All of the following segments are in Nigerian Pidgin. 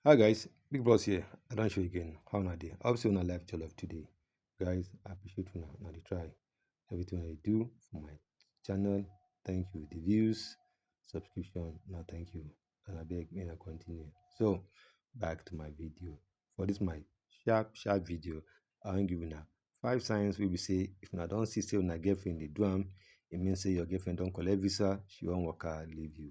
Hi guys, Big Boss here. I don't show you again. How na day? Obviously, on a live jollof today. Guys, I appreciate you now. the try. Everything I do for my channel. Thank you. The views, subscription. Now thank you. And I beg me to continue. So back to my video. For this my sharp, sharp video, I wan give now five signs We be say if una don't see say una girlfriend dey do am, it means say your girlfriend don't collect visa, she won't work out leave you.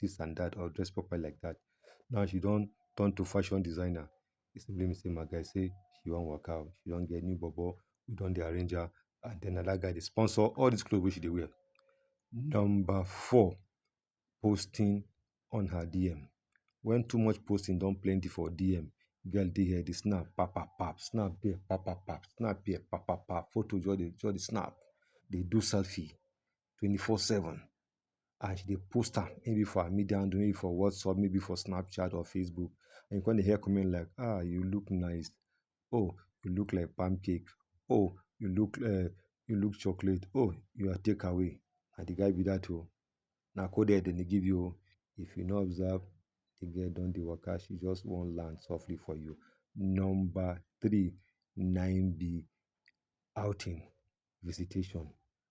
this and that or dress properly like that now she don turn to fashion designer e simply mean say my guy say she wan waka o she don get new bobo wey don dey arrange her and then na that guy dey sponsor all this clothes wey she dey wear number four posting on her dm when too much posting don plenty for dm girl dey here dey snap pap pap pap snap here pap pap pap snap here pap pap pap photo just dey just dey snap dey do selfie twenty-four seven and she dey post am maybe for her media handle, maybe for WhatsApp, maybe for Snapchat or Facebook and you come dey hear comment like ah you look nice, oh you look like palm cake, oh you look um you look chocolate, oh you are take away na de guy be dat oo. Na coded dem dey give you oo. If you no observe de girl don dey waka she just wan land softly for you. Number three na im be outing, visitation.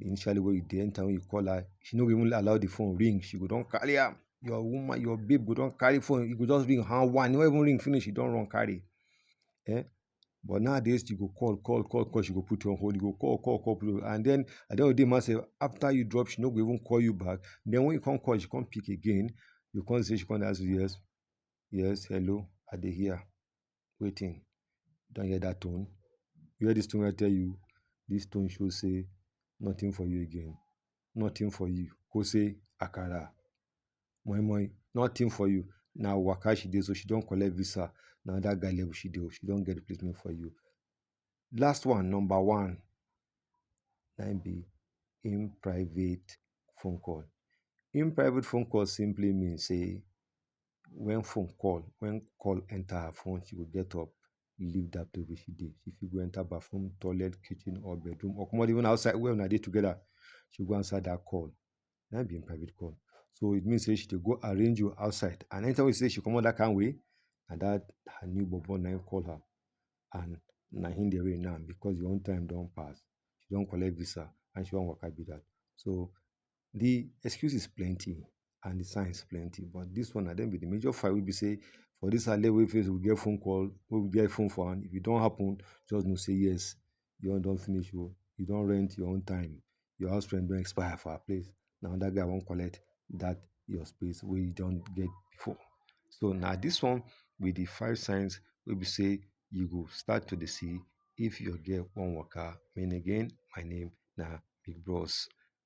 initially when you dey enter when you call her she no go even allow the phone ring she go don carry am your woman your babe go don carry phone you go just ring her one no even ring finish you don run carry eh but nowadays you go call call call call she go put you on hold you go call call call call and then at the end of the day man say after you drop she no go even call you back then when you come call she come pick again you come say she come dey ask you yes yes hello i dey hear Wetin? You don hear that tone? You hear this tone wey I tell you? This tone show say nothing for you again. Nothing for you. Go say Akara. Moi moi. Nothing for you. Na waka she dey so she don collect visa. Na that guy level she dey. oh. She don get replacement for you. Last one, number one, na im be in private phone call. In private phone call simply mean say when phone call, when call enter her phone, she go get up, leave that place where she dey. She fit go enter bathroom, toilet, kitchen, or bedroom, or comot even outside where una dey together. She go answer that call. Na im be im private call. So it means say she dey go arrange you outside. And anytime wey she say she comot that kind way, na that her new bobo na im call her. And na him dey reign now because your own time don pass. She don collect visa and she wan waka be that. So The excuses plenty and the signs plenty but this one na dem be the major five wey be say for this our level face we get phone call wey we get phone for hand if e don happen just know say yes your own don finish o you don rent your own time your house rent don expire for our place na another guy wan collect that your space wey you don get before so na this one be the five signs wey be say you go start to dey see if your girl wan waka me again my name na big bros.